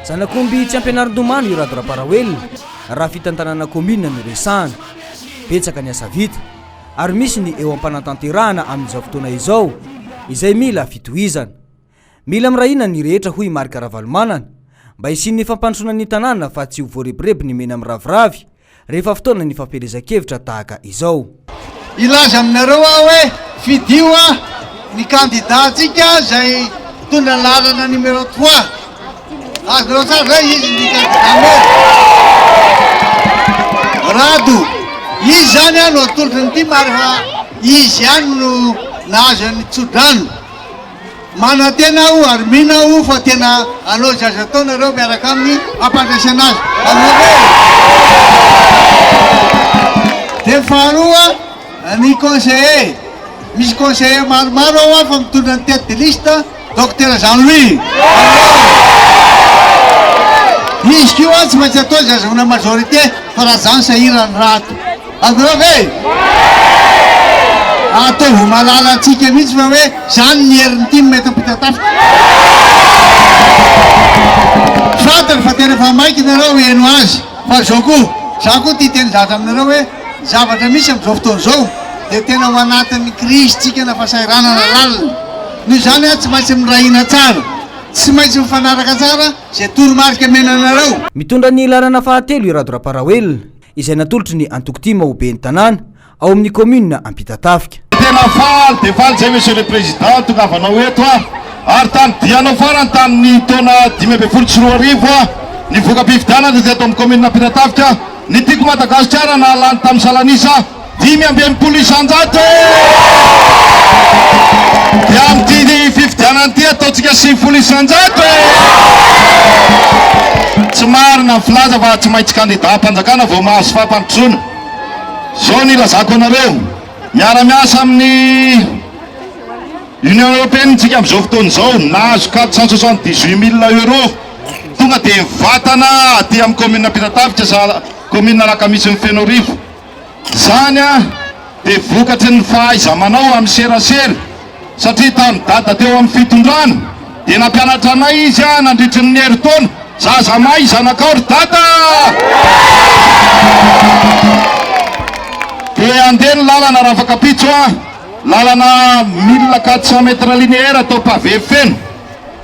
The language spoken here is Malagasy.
Zanak'omby tsy ampianarin-domano i Rado Raparaoelina raha fitantanana kaominina no resahana. Betsaka ny asa vita ary misy ny eo am-panatanterahana amin'izao fotoana izao izay mila fitohizana. Mila mirahina ny rehetra hoy Marc Ravalomanana mba hisian'ny fampandrosoana ny tanàna fa tsy ho voarebireby ny mena miraviravy Rehefa fotoana ny fampielezan-kevitra tahaka izao. Hilaza aminareo aho hoe fidio a! Ny kandida antsika izay mitondra ny laharana numéro trois. Azonareo tsara izay izy ny kandida maire. Rado. Izy izany a no atolotry ny tim ary fa izy ihany no nahazo ny tso-drano. Manantena aho ary mino aho fa tena hanao izay azo atao nareo miaraka aminy hampandresena azy Dia faharoa ny conseiller, misy conseiller maromaro ao aho fa mitondra ny tête de liste Docteur Jean Louis Izy koa tsy maintsy atao izay azahoana majorité fa raha zany sahirana ny raha ato. Avril ve? Ataovy malala antsika mihitsy fa hoe izany ny herin'ny tim eto Ampitatafika. Fantany fa tena efa maika ianareo heno azy fa izao koa, izaho koa tia teny zatra aminareo hoe ny zavatra misy amin'izao fotoana izao dia tena ao anatin'ny krizintsika na fasahiranana lalina. Noho izany aho tsy maintsy miray hina tsara, tsy maintsy mifanaraka tsara izay toromarika omena anareo. Mitondra ny laharana fahatelo i Rado Raparaoelina. izay natolotry ny antoko tim ho ben'ny tanàna ao amin'ny kaominina Ampitatafika. Tena faly dia faly izay Monsieur le Président tongavanao eto aho ary tany dianao farany tamin'ny taona dimy ambin'ny folo sy roa arivo aho ny voka-pifidianana izay eto amin'ny kaominina Ampitatafika ny tiako Madagasikara nahalany tamin'ny salan'isa dimy amby enimpolo isanjato e! Dia amin'ity fifidianana ity ataontsika sivifolo isanjato e! Tsy marina ny filaza fa tsy maintsy kandidam-panjakana vao mahazo fampandrosoana. Izao ny ilazako anareo, miara-miasa amin'ny Union Européenne ntsika amin'izao fotoana izao, nahazo quatre cent soixante dix huit mille euros, tonga dia vatana aty amin'ny commune Ampitatafika, commune Alakamisy ny Fenoarivo. Izany dia vokatry ny fahaiza-manao amin'ny serasera, satria tamin'i Dada teo amin'ny fitondrana dia nampianatra anay izy nandritry ny herintaona, zaza mahay zanakao ry Dada! Dia andeha ny lalana Rafakapitso, lalana mille quatre cent mètres linéaires atao pavé feno.